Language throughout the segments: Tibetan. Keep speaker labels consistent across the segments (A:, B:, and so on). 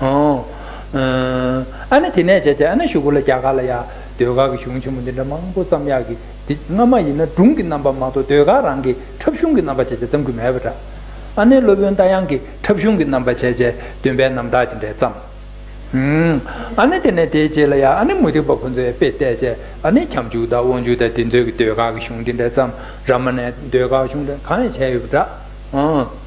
A: ཨོ། ཨ་ནི་དེ་ནས་བྱས་བྱས་ཨ་ནི་ཞུགས་གོ་ལ་རྒྱ་གར་ལ་ཡ། ཟློས་གར་གྱི་གཞུང་ཆེན་མོ་འདི་འདྲ་མང་པོ་ཙམ་ཡག་གི་འདི་སྔ་མ་ཡིན་ན་སྒྲུང་གི་རྣམ་པ་མ་གཏོགས་ཟློས་གར་རང་གི་འཁྲབ་གཞུང་གི་རྣམ་པ་བྱས་བྱས་ཙམ་གྱི་མེད་པ་འདྲ། ཨ་ནི་སློབ་དཔོན་རྟ་དབྱངས་ཀྱི་འཁྲབ་གཞུང་གི་རྣམ་པ་བྱས་བྱས་སྟོན་པའི་རྣམ་གྲགས་ཀྱི་འདྲེས་ཙམ། ཨ་ནི་དེ་ནས་དེའི་རྗེས་ལ་ཡ་ཨ་ནི་མུ་སྟེགས་པ་ཁོ་ཚོས་དཔེ་བལྟས་བྱས་ཨ་ནི་ཁྱབ་འཇུག་དང་དབང་ཕྱུག་དང་དེ་ཚོའི་ཟློས་གར་གྱི་གཞུང་འདི་འདྲ་ཙམ་ར་མ་ནས་ཟློས་གར་གཞུང་འདྲ་གང་ཡང་བྱས་ཡོད་པ་འདྲ།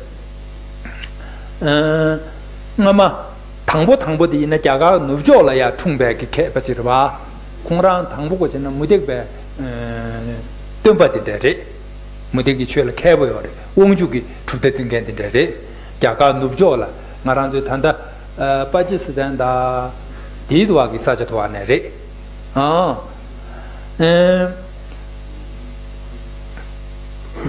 A: སྔ་མ། དང་པོ་དང་པོ་དེ་ཡིན་ན་རྒྱ་གར་ནུབ་ཕྱོགས་ལ་ཡང་འཁྲུངས་པའི་གི་གྷལ་པ་ཅི་རི་བ། ཁོང་རང་དང་པོ་གོ་ཅེ་ན་མུ་སྟེགས་པའི། སྟོན་པ་དེ་འདྲ་རེད། མུ་སྟེགས་ཀྱི་ཆོས་ལ་མཁས་པོ་ཡོད་རེད་དབང་ཕྱུག་གི་གྲུབ་མཐའ་འཛིན་མཁན་དེ་འདྲ་རེད། རྒྱ་གར་ནུབ་ཕྱོགས་ལ་ང་རང་ཚོའི་ད་ལྟ། པ་ཀྱི་སི་ཐན་དང། དེའི་དུ་བ་གི་ས་ཆ་དུ་བ་ནས་རེད། ཨང།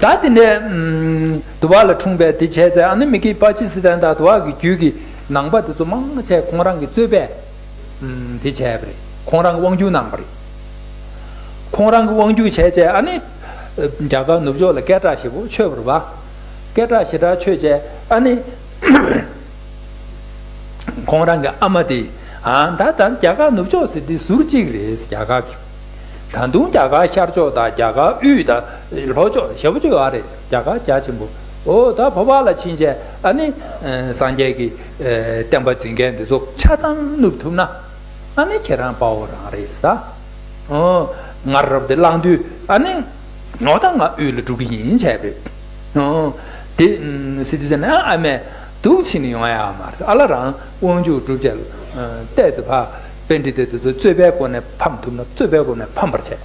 A: ད་དེ་འདྲའི། དུ་བ་ལ་འཁྲུངས་པས་དེ་བྱས་ཚེ་ཨ་ནི་མི་ཀི་པ་ཅི་སི་ཐན་དང་དུ་བ་གི་རྒྱུད་ཀྱི་ནང་པ་དེ་ཚོ་མང་ཆེ་ཁོང་རང་གི་རྩོད་པས་དེ་བྱས་པ་རེད་ཁོང་རང་གི་དབང་སྒྱུར་གནང་པ་རེད། ཁོང་རང་གི་དབང་སྒྱུར་བྱས་བྱས་ཨ་ནི་རྒྱ་གར་ནུབ་ཕྱོགས་ལ་སྐད་གྲགས་ཞེ་པོ་ཆོས་པར་བ། སྐད་གྲགས་ཞེ་དྲག་ཆོས་བྱས་ཨ་ནི། ཁོང་རང་གི་ཨ་མ་དེ་ད་ད་རྒྱ་གར་ནུབ་ཕྱོགས་ཟེར་དེ་ཟུར་གཅིག་རེད་རྒྱ་གར་གི། ད་དུང་རྒྱ་གར་ཤར་ཕྱོགས་དང་རྒྱ་གར་དབུས་དང་ལྷོ་ཕྱོགས་ཞེ་པོ་ཆོས་བ་རེད། རྒྱ་གར་རྒྱ་ཆེན་པོ། ཨོ་ད་བྷ་བ་ལ་ཕྱིན་ཆད་ཨ་ནི། སངས་རྒྱས་ཀྱི། བསྟན་པ་འཛིན་མཁན་འདི་ཚོ་ཆ་ཚང་བསྣུབ་ཐུབ་ན། ཨ་ནི་ཁྱེད་རང་དཔའ་བོ་རང་རེད་ས། ཨོ། ང་རབ་འདི་བླངས་དུས་ཨ་ནི། ངོ་ད་ང་དབུས་ལ་འགྲོ་གི་ཡིན་བྱས་པས། ཨོ། དེ། Citizen ཨ་ཨ་མས། སྡུག་ཕྱིན་ནི་ཡོང་ཡ་མ་རེད་ཨ་ལ་རང་དབང་ཕྱུག་སྒྲུབ་བྱས། ལྟས་ཙི་བྷ། དཔེ་འདྲི་དེ་དེ་ཚོ་རྩོད་པའི་སྒོ་ནས་ཕམ་ཐུབ་ན་རྩོད་པའི་སྒོ་ནས་ཕམ་པར་བྱས།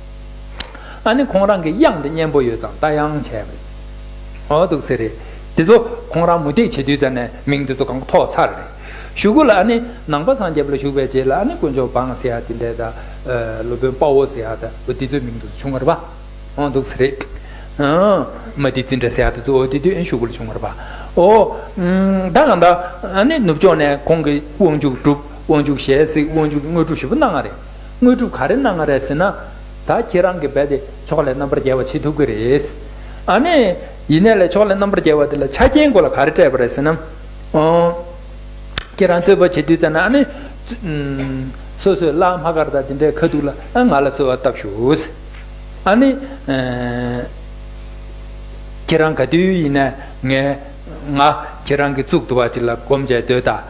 A: ཨ་ནི་ཁོང་རང་གི་དབྱངས་འདི་སྙན་པོ་ཡོད་ཙང་ལྟ་ཡང་བྱས་པ་རེད་འོ་འདུག་ཚེ་རེད། འདི་ཚོ་ཁོང་རང་མུ་སྟེགས་བྱེད་དུས་ཙ་ནས་མིང་འདི་ཚོ་གང་ཐོག་ཚར་རེད། ཞུ་གུ་ལ་ཨ་ནི་ནང་པ་སངས་རྒྱས་པ་ལ་ཞུགས་པའི་རྗེས་ལ་ཨ་ནི་དཀོན་མཆོག་འབངས་ཟེ་ཧ་དེ་འདྲས་དང། སློབ་དཔོན་དཔའ་བོ་ཟེ་ཧ་དང་འོ་འདི་ཚོའི་མིང་འདི་ཚོ་བྱུང་བར་པ་འོ་འདུག་ཚེ་རེད། མ་སྡི་ཙི་འདྲ་ཟེ་ཧ་དེ་ཚོ་འོ་དེ་དུས་ཨ་ནི་ཞུ་གུ་ལ་བྱུང་བར་པ་འོ། ད་གང་ལྟར་ཨ་ནི་ནུབ་ཕྱོགས་ནས་ཁོང་གིས་དབང་ཕྱུག་གྲུབ་དབང་ཕྱུག་ཞལ་གཟིགས་དབང་ཕྱུག་དངོས་གྲུབ་ཞེས་པ་གནང་བ་རེད། དངོས་གྲུབ་ག་རེ་གནང་ང་རེད་ཟེར་ན། ད་ཁྱེད་རང་གིས་འབད་དེ་ཕྱོགས་ལས་རྣམ་པར་རྒྱལ་བ་བྱེད་ཐུབ་ཀྱི་རེད། ཨ་ནེ། ཡིན་ནའི་ལས་ཕྱོགས་ལས་རྣམ་པར་རྒྱལ་བ་དེ་ལ་ཆ་རྐྱེན་དགོས་ལ་ག་རེ་སྤྲད་པ་རེད་ཟེར་ན། ཨོ། ཁྱེད་རང་རྩོད་པ་བྱེད་དུས་ལྟ་ན་ཨ་ནེ། སོ་སོས་བླ་མ་སྐར་རྟགས་དེ་འདྲའི་ཁ་ཐུག་ལ་ང་ལ་གསོལ་བ་བཏབ་ཞུགས། ཨ་ནེ། ཁྱེད་རང་ག་དུས་ཡིན་ནའི་ངས། ང་ཁྱེད་རང་གི་གཙུག་ཏུ་བ་ཅིག་ལ་སྒོམ་བྱས་སྡོད་ད།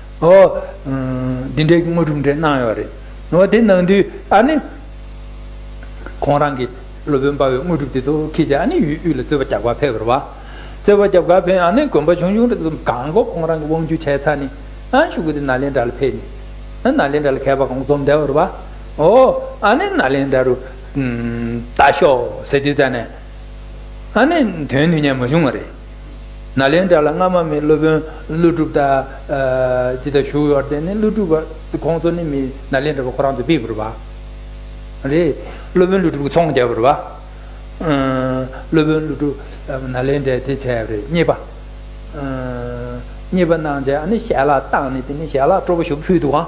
A: ཨོ། འདི་འདྲའི་དངོས་གྲུབ་འདྲ་གནང་ཡོད་རེད། ཨོ་དེ་གནང་དུས་ཨ་ནི། ཁོང་རང་གི་སློབ་དཔོན་དཔའ་བོའི་དངོས་གྲུབ་དེ་ཚོ་ཁྱེད་ཀྱིས་ཨ་ནི་ཡུལ་དབུས་ལ་རྩོད་པ་རྒྱག་པར་ཕེབས་རོགས། རྩོད་པ་རྒྱབ་གར་ཕེབས་ཨ་ནི་དགོན་པ་ཆུང་ཆུང་འདྲ་ཙམ་གང་སྒོ་ཁོང་རང་གི་དབང་བསྒྱུར་བྱས་ཚར་ནས་ཨ་ཤུ་གུ་དེ་ནཱ་ལེནྡྲ་ལ་ཕེབས་ནས། ནཱ་ལེནྡྲ་ལ་མཁས་པ་གང་འཛོམས་བསྡད་རོགས། ཨོ། ཨ་ནི་ནཱ་ལེནྡྲ་རུ། ལྟ་ཞོག་ཟེར་དུས་ཙཱ་ནས། ཨ་ནི་དོན་དུ་ཉན་མ་བྱུང་བ་རེད། ན་ལན་གྲགས་ལ་སྔ་མ་མི་སློབ་དཔོན་ཀླུ་སྒྲུབ་དང། ཅི་དང་བཞུགས་ཡོད་བར་བརྟེན་ནས་ཀླུ་སྒྲུབ་ཁོང་ཚོ་ནི་མི་ན་ལན་གྲགས་པ་ཁོ་རང་ཚོའི་དཔེ་བུར་བ། རེད། སློབ་དཔོན་ཀླུ་སྒྲུབ་ཀྱི་ཚོང་རྒྱག་བུར་བ། སློབ་དཔོན་ཀླུ་སྒྲུབ་ན་ལན་གྲགས་དེ་བྱས་པ་རེད་རྙེད་པ། རྙེད་པ་གནང་བྱས་ཨ་ནི་ཞལ་ལག་བཏགས་ནས་དེ་ནས་ཞལ་ལག་སྤྲོ་བོ་ཞིག་ཕུལ་འདུག་ཨང།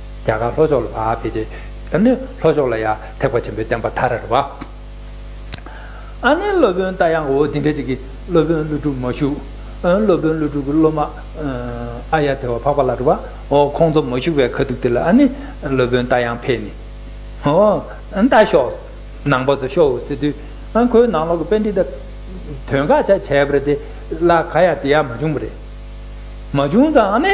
A: རྒྱ་གར་ལྷོ་ཕྱོགས་ལ་བ་བྷེ་རྗེ། ཨ་ནི་ལྷོ་ཕྱོགས་ལ་ཡ། ཐེག་པ་ཆེན་པོའི་བསྟན་པ་མཐའ་རལ་བ། ཨ་ནི་སློབ་དཔོན་རྟ་དབྱངས་འོད་ལྡན་འཕྲིན་ཆེན་གྱི། སློབ་དཔོན་ཀླུ་སྒྲུབ་མ་བཞུགས། ཨ་སློབ་དཔོན་ཀླུ་སྒྲུབ་ཀྱི་སློབ་མ། ཨ་ཡ་དེ་བ་འཕགས་པ་ལ་བྲི་བ། ཨོ་ཁོང་ཚོ་མ་བཞུགས་པའི་ཁ་ཐུག་དེ་ལ་ཨ་ནི། སློབ་དཔོན་རྟ་དབྱངས་འཕེལ་ནི། ཨོ། རྟ་ཤོག། ནང་པ་ཚོ་ཤོག་འོད་ཟེར་འདུས། ཨ་ཁོའི་ནང་ལོག་གི་དཔེ་འདི་ལྟ། དོན་དགག་བྱ་བྱས་པ་རེད་དེ། ལ་ག་ཡ་དེ་ཡ་མ་བྱུང་བ་རེད། མ་བྱུང་ཙང་ཨ་ནི།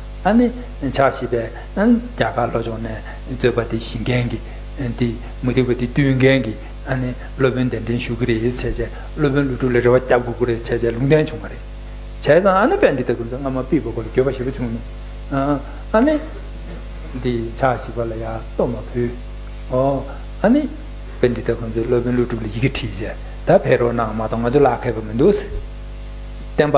A: ཨ་ནི་ཕྱག་བཞི་པས་རྒྱ་གར་ལྷོ་ཕྱོགས་ནས་རྩོད་པ་དེ་ཞི་མཁན་གྱི། དེ་མུ་སྟེགས་པ་དེ་བཏུལ་མཁན་གྱི་ཨ་ནི་སློབ་དཔོན་གདན་འདྲེན་ཞུ་གི་རེད་བྱས་བྱས་སློབ་དཔོན་ཀླུ་སྒྲུབ་ལ་རེ་བ་བརྒྱ་དགོས་ཀྱི་རེད་བྱས་བྱས་ལུང་བསྟན་བྱུང་བ་རེད། བྱས་ཙང་ཨ་ནི་དཔལ་འདི་ལྟ་བུ་ཚོ་སྔ་མ་པི་བ་གོ་ལ་འགྱོད་པ་ཞེ་པོ་བྱུང་མེད། ཨ་ནི། དེ་ཕྱག་བཞི་པ་ལ་ཡར་བསྟོད་མ་ཕུལ། ཨོ། ཨ་ནི། དཔལ་འདི་ལྟ་བུ་ཚོས་སློབ་དཔོན་ཀླུ་སྒྲུབ་ལ་ཡི་གེ་བྲིས་བྱས་ད་ཕེབས་རོགས་གནང་མ་གཏོགས་ང་ཚོ་ལག་ཁེལ་པ་མི་འདུག་ཟེར། བསྟན་པ།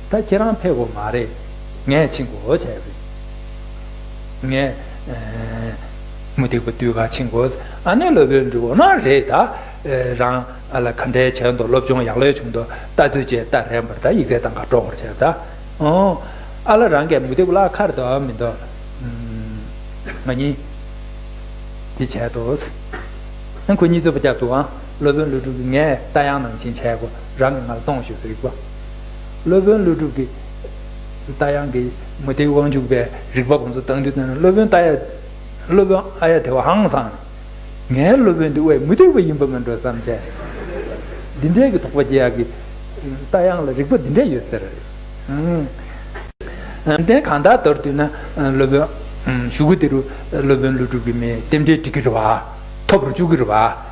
A: ད་ཁྱེད་རང་ཕེབས་གོ་མ་རེད། ངས་ཕྱིན་གོ་བྱས་པས། ངས། མུ་སྟེགས་པ་དུས་གང་ཕྱིན་གོ། ཨ་ནེ་སློབ་དཔོན་འདྲི་བོ་ན་རེ་ད། རང། ཨ་ལ་ག་འདྲའི་བྱས་འདུག་སློབ་སྦྱོང་ཡག་ལོས་བྱུང་འདུག་ལྟ་ཚུལ་བཅས་ལྟ་རན་པར་ད་ཡིག་ཚད་དང་ག་སྒྲོག་པར་བྱས་ད། ཨོང། ཨ་ལ་རང་གས་མུ་སྟེགས་པ་ལ་ཁར་འདུག་ཨ་མི་འདུག། ང་གཉིས། དེ་བྱས་འདུག། ཁོ་གཉིས་རྩོད་པ་བརྒྱབ་འདུག་ཨང། སློབ་དཔོན་ཀླུ་སྒྲུབ་ཀྱིས་ངས་རྟ་དབྱངས་ནང་བཞིན་བྱས་གོ། རང་གིས་ང་ལ་གཏོང་ཞེས་རིག་པ། སློབ་དཔོན་ཀླུ་སྒྲུབ་ཀྱིས། རྟ་དབྱངས་ཀྱི་མུ་སྟེགས་དབང་ཕྱུག་པའི་རིག་པ་ཁོང་ཚོ་བཏང་དུས་སློབ་དཔོན་རྟ་ཡ། སློབ་དཔོན་ཨ་ཡ་དེ་བ་ཧང་སང་ནས། ངའི་སློབ་དཔོན་འདི་དབའས་མུ་སྟེགས་པ་ཡིན་པ་མིན་འགྲོ་བསམ་ཆེ། འདི་འདྲའི་གི་དོགས་པ་སྐྱེ་ཡག་གི། རྟ་དབྱངས་ལ་རིག་པ་འདི་འདྲ་ཡོད་ཟེར། ཡོན་ཏན་གང་དག་དོར་དུས་ན་སློབ་དཔོན། ཞུ་གུ་དེ་རུ་སློབ་དཔོན་ཀླུ་སྒྲུབ་ཀྱི་མིའི་རྟེན་འབྲེལ་འགྲིག་གི་རེད་བ། ཐོབ་རུ་བཅུག་གི་རེད་བ།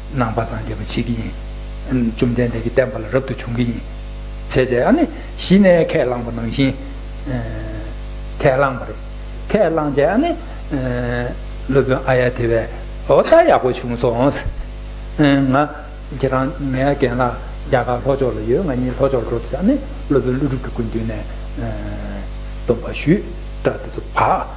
A: ནང་པ་སངས་རྒྱས་པར་བྱེད་ཀྱི་ཡིན། བཅོམ་ལྡན་འདས་ཀྱི་བསྟན་པ་ལ་རབ་ཏུ་བྱུང་གི་ཡིན། བྱས་བྱས་ཨ་ནི་གཞི་ནས་ཁས་བླངས་པ་ནང་བཞིན། ཁས་བླངས་པ་རེད། ཁས་བླངས་བྱས་ཨ་ནི། སློབ་དཔོན་ཨ་ཡ་དེ་བས་ཨོ་ད་ཡག་པོ་བྱུང་སོང། ང། ཁྱེད་རང་ངའི་རྒན་ལགས་རྒྱ་གར་ལྷོ་ཕྱོགས་ལ་ཡོད་ང་གཉིས་ལྷོ་ཕྱོགས་འགྲོ་དུས་ཨ་ནི་སློབ་དཔོན་ཀླུ་སྒྲུབ་ཀྱི་སྐུ་མདུན་ནས། སྡོམ་པ་ཞུས། སྐྲ་དེ་ཚོ་བག།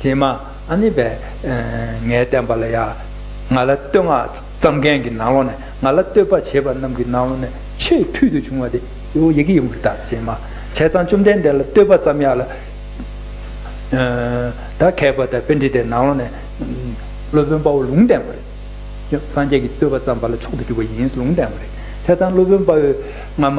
A: ཀྱེ་མ་ཨ་ནི་བས། ངའི་བསྟན་པ་ལ་ཡ། ང་ལ་བསྟོད་བསྔགས་བརྩམ་མཁན་གྱི་ནང་ལོགས་ནས་ང་ལ་བསྟོད་པ་བྱེད་པ་རྣམས་ཀྱི་ནང་ལོགས་ནས་ཆེས་ཕུལ་དུ་བྱུང་བ་དེ། ཡི་གེ་ཡིན་པར་བརྟགས་ཀྱེ་མ། བྱས་ཙང་བཅོམ་ལྡན་འདས་ལ་བསྟོད་པ་བརྩམ་ཡག་ལ། ད་གས་པ་དང་དཔེ་འདྲི་དེ་ནང་ལོགས་ནས། སློབ་དཔོན་དཔའ་བོ་ལུང་བསྟན་པ་རེད། སངས་རྒྱས་ཀྱི་བསྟོད་པ་བརྩམས་པ་ལ་མཆོག་ཏུ་གྱུར་པ་ཡིན་ལུང་བསྟན་པ་རེད། བྱས་ཙང་སློབ་དཔོན་དཔའ་བོས་སྔ་མ།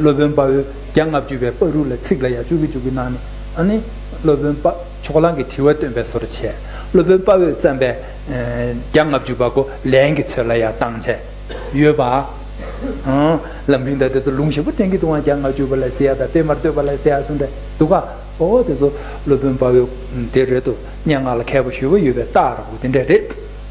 A: སློབ་དཔོན་དཔའ་བོས་བརྒྱ་ལྔ་བཅུ་པའི་དཔའ་རུས་ལ་ཚིག་ལ་ཡ་བཅུ་གུ་བཅུ་གུ་གནང་ནས། སློབ་དཔོན་དཔའ་ཕྱོགས་གླང་གི་དྲི་བ་སྟོན་པའི་སོར་བྱས། སློབ་དཔོན་དཔའ་བོས་བརྩམས་པའི་བརྒྱ་ལྔ་བཅུ་པ་གོ་ལན་གྱི་ཚོད་ལ་ཡང་བཏང་བྱས་ཡོད་པ། ལམ་རིང་དང་དེ་ཚོ་ལུང་ཞིབ་པོ་ཏན་གྱི་དུའང་བརྒྱ་ལྔ་བཅུ་པ་ལ་སི་ཡ་དང་སྤེལ་མར་བསྟོད་པ་ལ་སི་ཡ་གསུངས་པས་འདུག་ག། ཨོ་དེ་ཚོ་སློབ་དཔོན་དཔའ་བོས་དེ་རེད་དོ་སྙན་ངག་ལ་མཁས་པ་ཞུ་བ་ཡོད་པའི་རྟགས་ར་བོ་དེ་འདྲ་རེད།